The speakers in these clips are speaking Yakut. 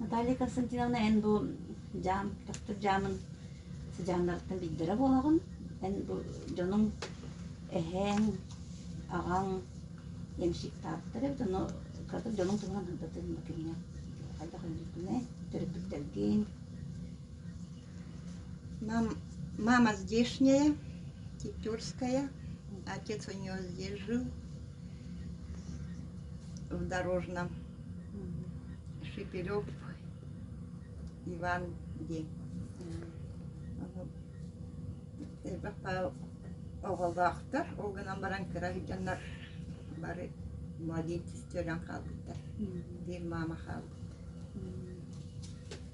Наталья Константиновна эн бу дьаам, төхтүр дьаамын сыдьааннарыттан биллэрэ буолаҕын. Эн бу дьонуҥ эһээҥ, аҕаҥ ямщиктаабыттар эбит, ону кыратык дьонуҥ туһунан ырдатыҥ да кэмҥэ хайдах өлбүккүнэй, төрөппүттэргин. Нам мама здешняя, тетёрская, отец у нее здесь жил в Дорожном. Шикирев Иван диэн элбэх оҕолоохтор ол гынан баран кыра сылдьаннар бары молитве сөрөн хаалбыттар биир маама хаалбыт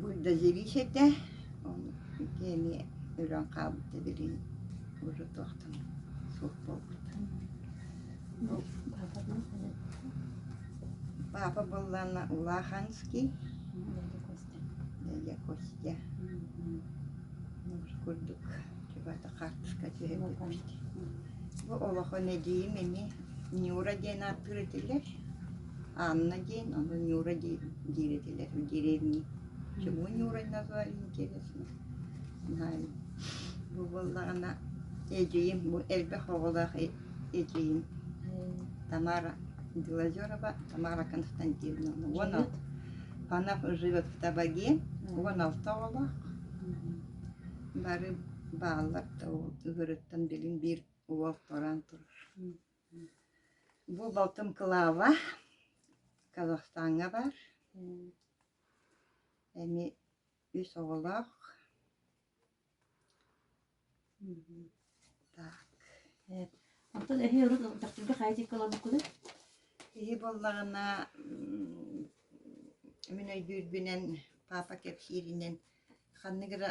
Буддозависьете ол киэни өлөн хаалбыта билигин уже туохтан суох буолбута папа буоллаана улаханский дядя костя курдук чубата хаартыска түһэрбиппит бу олохо нэдиим ини нюра диэн ааттыыр этилэр Анна диэн, ону Нюра диир диир этилэр в деревне. Чему Нюрой назвали, интересно. Знаю. Бу буоллаҕына эдьиийим, бу элбэх оҕолоох э- эдьиийим Тамара Делозерова, Тамара Константиновна. Уон алт Панов живет в табаге. Уон алта оҕолоох. Бары бааллар да ол ыгырыттан билин биир уол туран турар. Бу балтым Кылаава, Казахстаҥҥа бар. Эми үс оҕолоох. Так. Онтон эһи урут дьахтарга хаайдыыкка ылабыккын? Киһи буоллаҕына мин өйдүүрбүнэн папа кэпсииринэн ханнык эрэ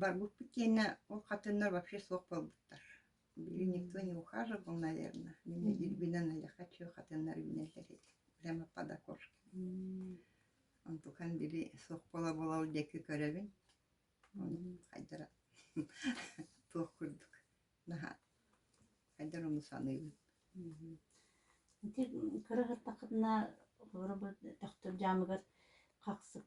Барбыппыт киэнэ ол хатыннар вообще суох буолбуттар. Били никто не ухаживал, наверное. Мин дирбинэн айаха чүө хатыннар үүнэллэр эти. Прямо под окошки. Онтукан били суох бола бола ол диэки көрөбүн. Ону хайдара туох курдук наһаа хайдара ону саныыбын. Ити кыраҕыттахытына холобур төхтүр дьаамыгар хахсык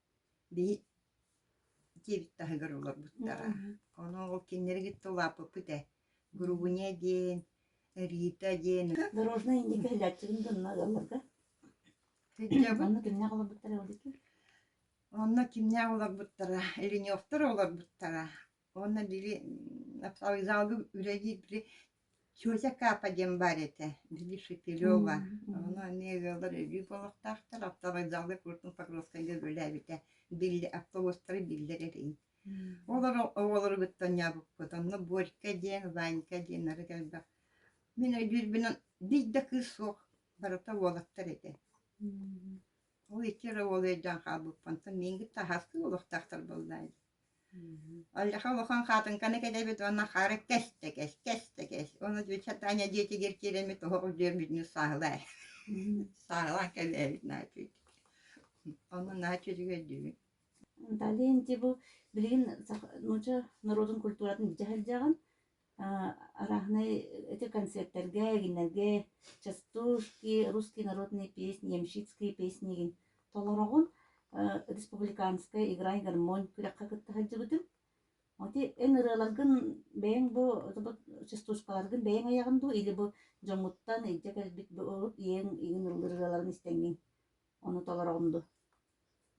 Биһи диэбит таһыгар олорбуттара. Ону ол кинилэри кытта улааппыппыт ээ. Грубыня диэн, Рита диэн. Дорожная индийка иһиллээччилэрин да онно ыалларга. Сыдьабын. Онно кимнээх олорбуттара ол икки? Онно кимнээх олорбуттара? Леневтар олорбуттара. Уонна били вокзалга үлэлиир Тетя Капа диэн баар этэ, били Шепелева. Ону эмиэ ыаллар өлүү буолуохтаахтар. Автовокзалга Крутун Покровскайга үлэлээбитэ. Биллэ, автобустары биллэр эрин. Олор оҕолоругуттан ньаабыккыт. Онно Борька диэн, Ванька диэн нары кэлбэх. Мин өйүүрбүнэн бич да кыыс суох барыта уолаттар этэ. Ол икки эрэ уол өйдөөн хаалбыппынтан миигин таһаастыы олохтоохтор буолла дии. Алиха улахан хаатыҥканы кэлэбит уонна хаары кэс да кэс, кэс да кэс. Ону дьиичэ Таня дьиэтигэр киирэммит оһоҕу дьүөрбүтүнү сааһылаай. Сааһылаан кэлээбит наачүй. Ону наачүдүгэр дүүбүн. Далин, бу билигин нууча норуотун культуратын билдьэ сылдьаҕын. Араһынай эти концертэргэ, эгиннэргэ частушки, русские народные песни, ямщицкие песнигин толороҕун. Республиканская игра и гармонь күрэххэ кытта сылдьыбытым. Ити эн ырыаларгын бэйэҥ бу частушкаларгын бэйэҥ айаҕын дуу или бу дьоҥҥуттан илдьэ кэлбит урут ийэҥ иҥин ыллыыр ырыаларын истэҥҥин? Ону толороҕун дуу?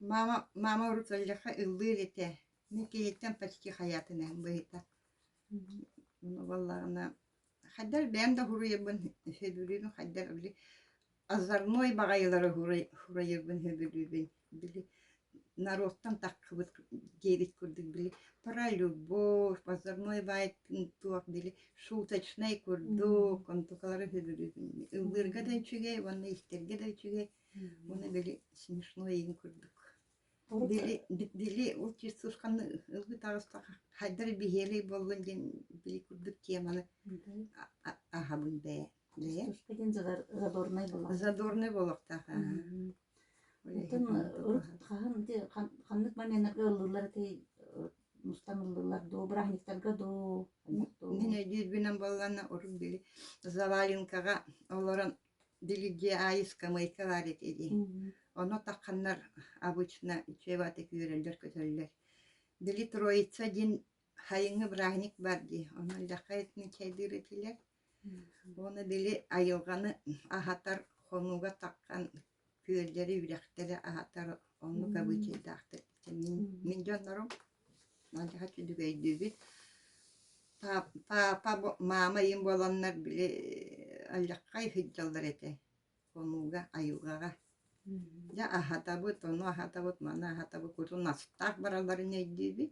Маама маама урут ыалдьахха ыллыыр этэ, мин киһиттэн почти хайаатын иһин быһыта. Буоллаҕына хайдах бэйэм да уһуруйарбын өйдүүрүбүн хайдах били озорной баҕайылары уһуруйарбын өйдүүрбүн били норуоттан таххыбыт диэбит курдук били про любовь озорной туох били шуточнай курдук онтукалары өйдүүрбүн ыллыырга да үчүгэй уонна истэргэ да үчүгэй Уонна били смешно иһин курдук. Били били ол тиссушканы ылгы таҕыста хайдар биһиэлэй боллун диэн били курдук теманы аһабын бэйэ бэйэ деген задорнай боллох задорнай боллохтаах Оттон урут хаһан ханнык моментнарга ыллылар этэй мустан ыллылар дуу браһниктарга дуу мин өйдүүрбүнэн болланна орут били заваленкаҕа олорон Делегиаайыска Майка Валик ини. Ону тахханнар обычно чеватык үөрэллэр-көтөллөр. Делитроица диэн хайыҥы бырааһынньык бар дии. Ону эллэххэ этин чайдыыр этилэр. Уонна били айылҕаны аһатар хонууга таххан күөллэри, үрэхтэри аһатар оннук обычайдаахтар. Мин, мин дьоннорум алдьархай үчүгэйдиибит. Папа, маама ийэм буоланнар били алдьархай сылдьаллар этэ. Хонууга, айылҕаҕа. Дьэ аһатабыт, ону аһатабыт, маны аһатабыт курдук настаах баралларын өйдүүбүт.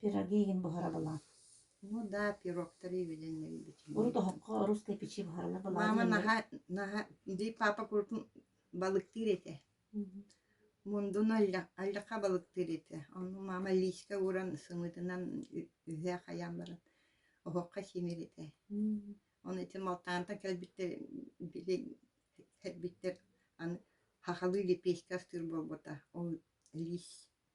Пирогигин буһарабылаан. Ну да, пирогтары билинэрбитим. Урут оһоххо русскай печи буһаралар Мама наһаа наһаа дии папа куртун балыктыыр этэ. Мундун аллаха балыктыыр этэ. Ону мама лииска ууран сымыытынан үһэ хайаан баран оһоххо симир этэ. Ону ити Малтаантан кэлбиттэр били кэлбиттэр аны хахалыы лепешка астыыр буолбута. Ол лиис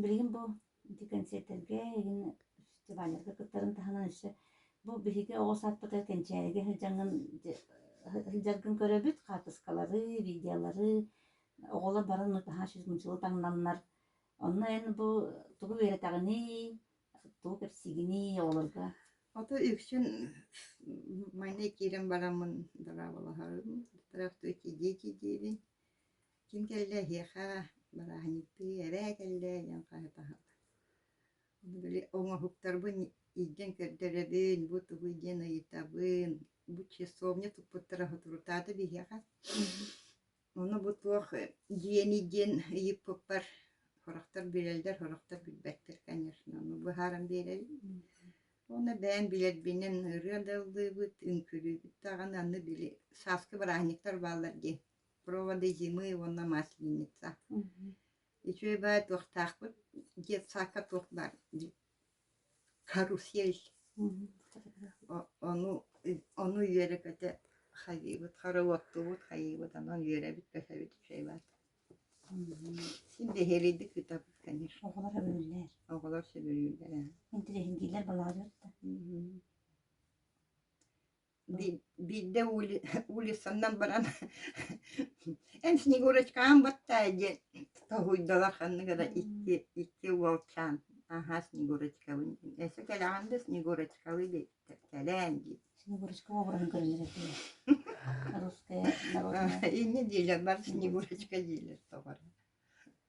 Билигин бу ити кэнсиэртэргэ, эҥин фестивалларга кыттарын таһынан өссө бу биһиги оҕо саадпыта кэнчээригэ сылдьаҥҥын сылдьаргын көрөбүт, хаартыскалары, видеолары, оҕолор баран наһаа чочумчулуу таҥнаннар. Онно эн бу тугу үөрэтэҕиний, тугу кэпсиигиний оҕолорго? Ото үксүн майна киирэн бараммын дорооболоһорум, тойохтуу киирдии-киирдиирин. Ким кэллэ эһиэхэ бырааһынньыктыы эрээ кэллэ диэн хаһыта аһыллар. Ону били оҥоһуктарбын илдьэн көрдөрөбүн, бу тугуй диэн ыйытабын, бу часовня туппуттара соторутаата биһиэхэ. Ону бу туох дьиэний диэн ыйыппыппар сорохтор билэллэр, сорохтор билбэттэр, конечно. Ону быһааран биэрэрим. Уонна бэйэм билэрбинэн ырыа да ыллыыбыт, үҥкүүлүүбүт даҕаны, аны били сааскы бырааһынньыктар бааллар диэн проводы зимы уонна масленица үчүгэй баай туохтаахпыт дед сака туох баар дии карусель ону ону үөрэ-көтө хайыыбыт хороводтубут хайыыбыт анан үөрэбит көсөбүт үчүгэй баат син нэһилийдик ыытабыт конечно оҕолор өлөллөр оҕолор сөбүлүүллэр интириэһингийлэр балаалыыр да биирдэ улиссаннан баран эн снегурочкаҕын баттаа диэн тоһуйдулар ханнык эрэ икки уолчаан аһаа снегурочкабын диэн эсэ кэлэҕин да снегурочкабы диэттэр кэлээн диэн снегурочка уобраһын көрүнэр этэ инньэ диилэр бар снегурочка диилэр тоҕо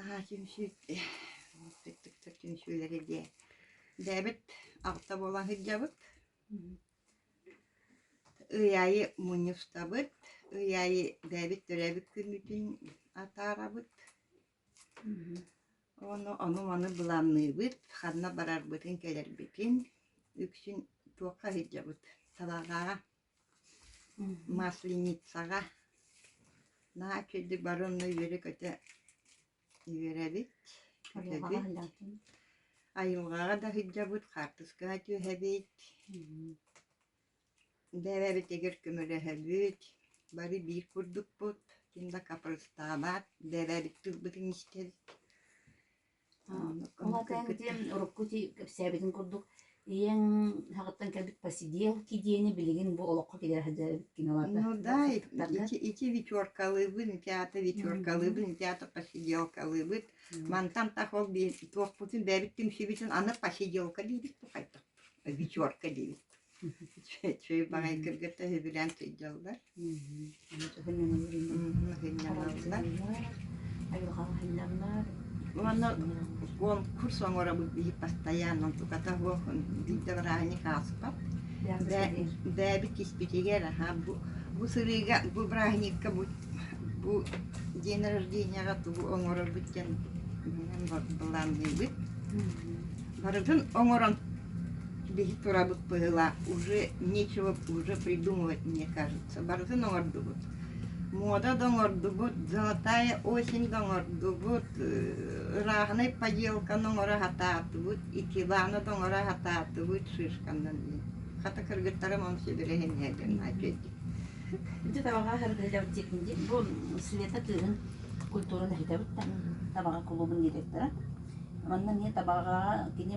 Аһаа, түмсүү, түктүктэр түмсүүлэри дьэ дээбит аҕта буолан сылдьабыт. Ый аайы мунньустабыт, ый аайы дээбит төрөөбүт күммүтүн атаарабыт. Ону ону-маны былаанныыбыт, ханна барарбытын, кэлэрбитин, үксүн туохха сылдьабыт салаалааҕа. Масленицаҕа наһаа үчүгэйдик бары онно үөрэ-көтө үөрэбит, көтөбүт. Айылҕаҕа да сылдьабыт, хаартыскаҕа түһэбит. Бэйэбит эгэр көмөлөһөбүт, бары биир курдукпут. Ким да капрастаабат, бэйэбит тылбытын истэбит. Ол аата эн кэтиэм урукку кэпсээбитин курдук ийэҥ саҕаттан кэлбит Посидел кидиэни билигин бу олоххо киирэ сылдьар эбит киноларга. Ну да, эти вечеркалыыбын, театр вечеркалыыбын, театр посиделкалыыбыт. Мантан тахал диэн туохпутун бэбит түмсүбүтүн аны посиделка диибит тухайдык, вечерка диибит. Чүүй баҕай кыргыта үбүлээн сыдьаллар. Уонна конкурс оҥоробут биһи постоянно туката суох биирдэ бырааһынньык ааспат. Дээби киспитигэр аха бу бу сырыыга бу бырааһынньыкка бу бу день рожденияҕа тугу оҥорорбут диэн былаанныыбыт. Барыгын оҥорон Биһи турабыт быһыылаах, уже нечего уже придумывать, мне кажется. Барытын оҥордубут. Муода да оҥордубут, золотая осень да оҥордубут, ырааһынай поделканы оҥоро сатаатыбыт, итиланы да оҥоро сатаатыбыт шишканан. Хата кыргыттарым он сөбүлэһин иһэллэр напердик. Ити табаҕа харытыйдабыт тиэтин диэн, бу Света кыыһын культурын иһитэбит табаҕа клубун директора. Манна эмиэ табаҕаҕа кини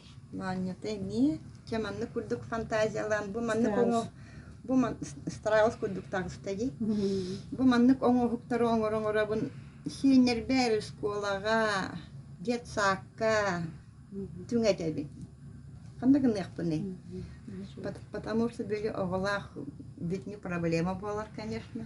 Маанньата эмиэ. Чэ, маннык курдук фантазиялаан, бу маннык оҥо бу ман Страус курдук таҕыстагый. Бу маннык оҥоһуктары оҥоро-оҥоробун сиэннэрбэр оскуолаҕа, детсаакка түҥэтэбин. Ханна гыныахпыный? Потому что были оҕолаах видни проблема буолар, конечно.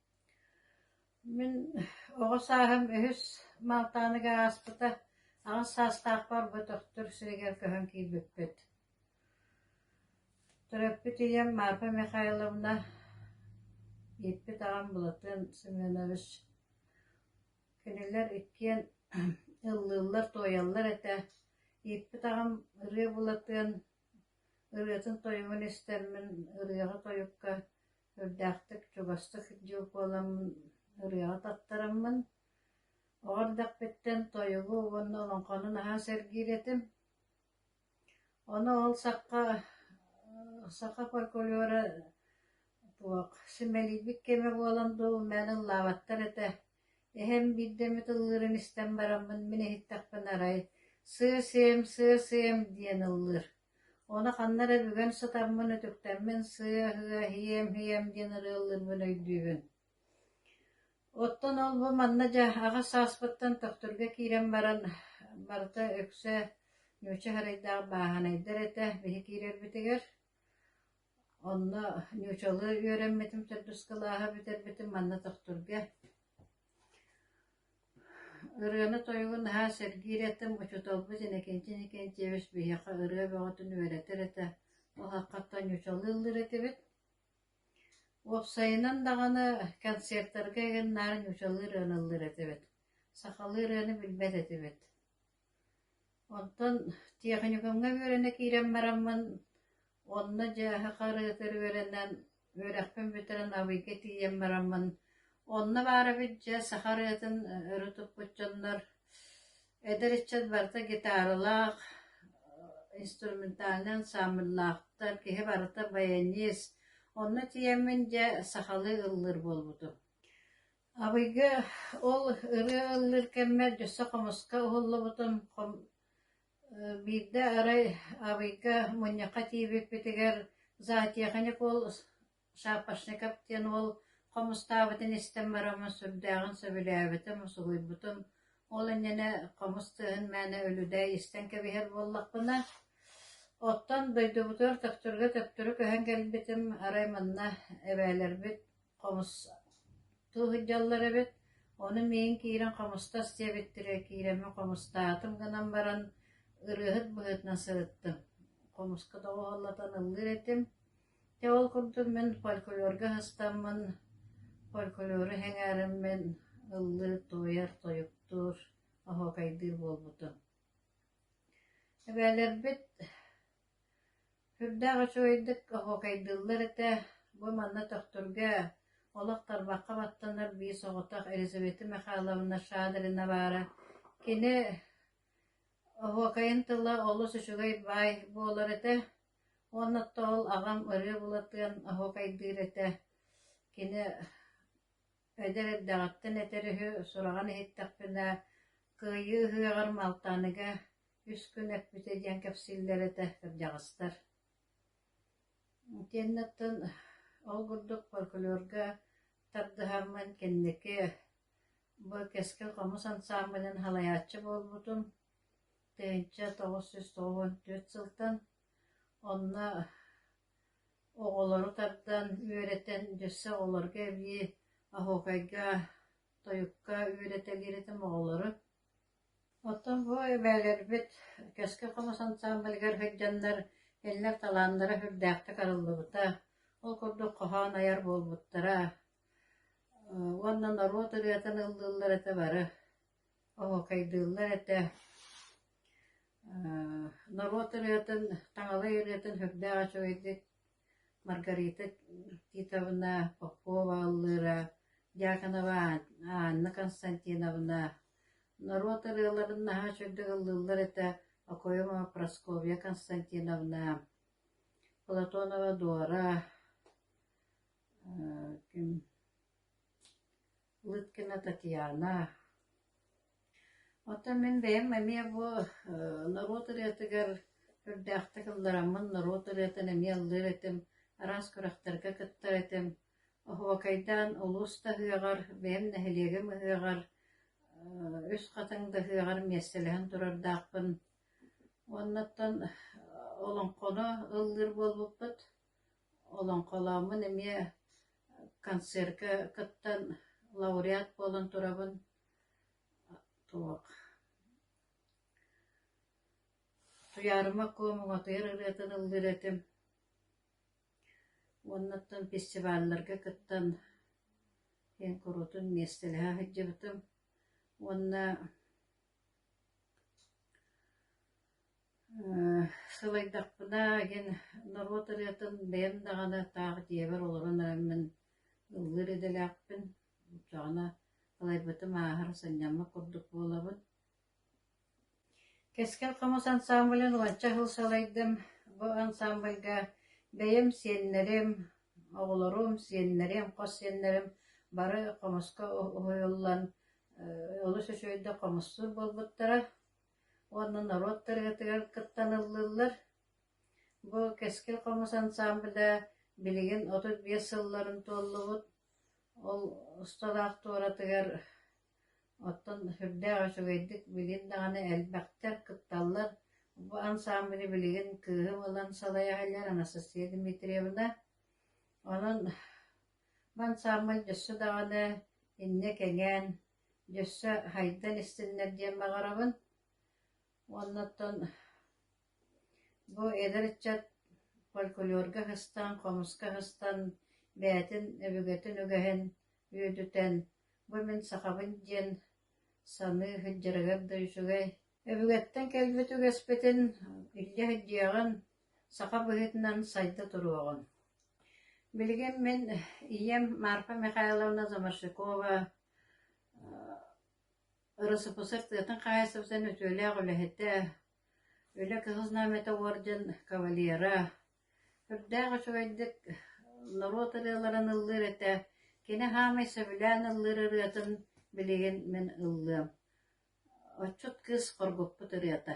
Мин оҕо сааһым үһүс Малтааныга ааспыта, аҕыс саастаах барбатахтар сиригэр көһөн киирбиппит. Төрөппүт ийэм Марфа Михайловна, ииппит аҕам Былатыан Семенович. Кинилэр иккиэн ыллыыллар-туойаллар этэ. Ииппит аҕам ырыа Былатыан, ырыатын тойугун истэммин ырыаҕа-тойукка Үрдээхтик, чугастык дьыл буоламмын ырыаҕа таттараммын, оҕо эрдэхпиттэн тойугу уонна олоҥхону наһаа сэргиир этим. Ону ол сахха саха фольклора туох симэлийбит кэмэ буолан дуу, мээн ыллаабаттар этэ. Эһэм биирдэ эмит ыллыырын истэн бараммын, мин иһиттэхпинэ, арай «сыа сиэм, сыа сиэм» диэн ыллыыр. Ону ханна эрэ бүгэн сытаммын, үтүктэммин сыа-һыа, һиэм-һиэм диэн ырыалыырбын өйдүүбүн Оттон ол бу манна дьэ аҕыс сааспыттан төхтүргэ киирэн баран, барыта үксэ Нюча Харайдаах бааһынайдар этэ биһи киирэрбитигэр. Онно Нючалыы үөрэммитим, төрдүс кылааһы бүтэрбитим манна төхтүргэ Ырыаны-тойугу наһаа сэргиир этим, учууталбыт Иннокентин Иннокентьевич биһиэхэ ырыа бөҕөтүн үөрэтэр этэ, ол ааххаттан ньучалыыллар этибит. Уопсайынан даҕаны, концертарга иһин наар ньучалыы ырыаналлар этибит, сахалыы ырыаны билбэт этибит Оттон тиэхиньикаҥҥа үөрэнэ киирэн бараммын, онно дьааһы харыытыыр үөрэнэн, үөрэхпин бүтэрэн Абыйга тиийэн бараммын, онно баара бүддьүөт саха арыатын өрө туппут дьоннор эдэр ыччат барыта гитаралаах, инструментальнай ансаамбыллаахтар, киһи барыта баянист. Онно тиийэммин дьэ сахалыы ыллыыр буолбутум. Абыйга ол ырыа ыллыыр кэммэр өссө хомуска уһуллубутум, биирдэ арай Абыйга мунньахха тиийбиппитигэр зоотеханик уол Шапошников диэн уол хомустаабытын истэн бараммын сүрдээҕин сөбүлээбитим, усулуйбутум. Ол иннинэ хомус тыаһын мээнэ үлүбээй истэн кэбиһэр буоллахпына, оттон дойдубутугар төхтүргэ төптөрү көһөн кэлбитим, арай манна эбээлэрбит Хомус тууһуддьаллар эбит, ону миин киирэн хомустас диэбиттэрэ, киирэми хомустаатым гынан баран, ырыаһыт быһыытынан сырыттым, хомуска доҕуһаллатан ыллыыр этим. Дьэ ол курдук мин фольклорга сыстаммын, фольклору сэҥээрэммин ыллыыр, туойар, тойуктуур, оһуокайдыыр буолбутум. Эбээлэрбит Үрдээх үчүгэйдик оһуокайдыыллар этэ, бу манна төхтүргэ, олох тарбахха баттанар биис оҕотох Елизавета Михайловна Шадрина баара. Кини оһуокайын тыла олус үчүгэй баай буолар этэ уонна тоол аҕам ырыа Былатыан оһуокайдыыр этэ. Кини Эдэр эрдэҕиттэн этэр үһү, сураҕын иһиттэхпинэ, «Кыайыы ыһыаҕар Малтааныга үс күн эппитэ» диэн кэпсииллэр этэ кырдьаҕастар. Итиэннэ оттон ол курдук фольклорга тардыһармын кэнники бу Кэскил хомус ансаамбылын салайааччы буолбутум тыһыынча тоҕус сүүс тоҕус уон түөрт сылтан. Онно Оҕолору тардан, үөрэтэн, өссө оҕолорго эбии оһуокайга, тойукка үөрэтэлиир-этим оҕолору. Оттон бу эбээлэрбит Кэскил хомус ансаамбылыгар сылдьаннар кинилэр талааннара үрдээхтик арыллыбыта, ол курдук хоһоон айар буолбуттара, уонна норуот ырыатын ыллыыллар этэ бары Оһокайдыыллар этэ, норуот ырыатын, таҥалай ырыатын сүрдээх үчүгэйдик Маргарита Титовна Попова аллыыра, Дьяконова Анна Константиновна, норуот ырыаларын наһаа үчүгэйдик ыллыыллар этэ Окоемова Прасковья Константиновна, Платонова Дора, ким Лыткина Татьяна Оттон мин бэйэм эмиэ бу норуот ырыатыгар үрдээхтик ыллараммын норуот ырыатын эмиэ ыллыыр этим, араас күрэхтэргэ кыттар этим. Оһуокайдаан улуус да ыһыаҕар, бэйэм нэһилиэгим ыһыаҕар, үс хатыҥ да ыһыаҕар миэстэлэһэн турардаахпын. Оннуттан олоҥхону ыллыыр буолбуппут. Олоҥхолооммун эмиэ концерка кыттан лауреат буолан турабын, туох Туйаарыма Куо муҥатыйар ырыатын ыллыыр этим уонна оттон фестивалларга кыттан киэҥ куруутун миэстэлэһэ сылдьыбытым уонна Сылайдахпына эн норуот ырыатын бэйэм даҕаны таах дьиэбэр олорон эрэн мин ыллыыр идэлээхпин. Даҕаны сылайбытым ааһар, сынньаммыт курдук буолабын. Кэскил хомус ансаамбылын уонча сыл сылайдым. Бу ансаамбылга бэйэм сиэннэрим, оҕолорум, сиэннэрим, хос сиэннэрим бары хомуска уһуйуллан олус үчүгэйдик хомуссуур буолбуттара. Уонна норуот тарыхытыгар кыттан ыллыллар. Бу Кэскил хомус ансаамбыла билигин отут биэс сылларын туоллубут. Ол усталаах туоратыгар оттон сүрдээх үчүгэйдик билин даҕаны элбэхтэр, кытталлар. Бу ансаамбыны билигин кыыһым ылан салайа иһэллэр Анастасия Дмитриевна. Онон бу ансаамбыл өссө даҕаны иннэ кэҥээн, Өссө хайдан истиннэр диэн баҕарабын. Уонна оттон бу эдэр ыччат фольклорга һыстан, хомуска һыстан, бэйэтин өбүгэтин үгэһин үөдүтэн, бу мин сахабын диэн саныы һыддьарыгар да үчүгэй. Өбүгэттэн кэлбит үгэспитин илдьэ һыддьыаҕын, саха быһыытынан сайда туруоҕун. Билигин мин ийэм Марфа Михайловна Заморщикова Өросопуссар тыатын хаһаайыстыбатын үтүөлээх үлэһитэ, Үлэ Кыһыл Знамята орден кавалера, үрдээх үчүгэйдик норуот ырыаларын ыллыыр этэ, кини саамай сөбүлээн ыллыыр ырыатын билигин мин ыллыам. Отчут кыыс хоргуппут ырыата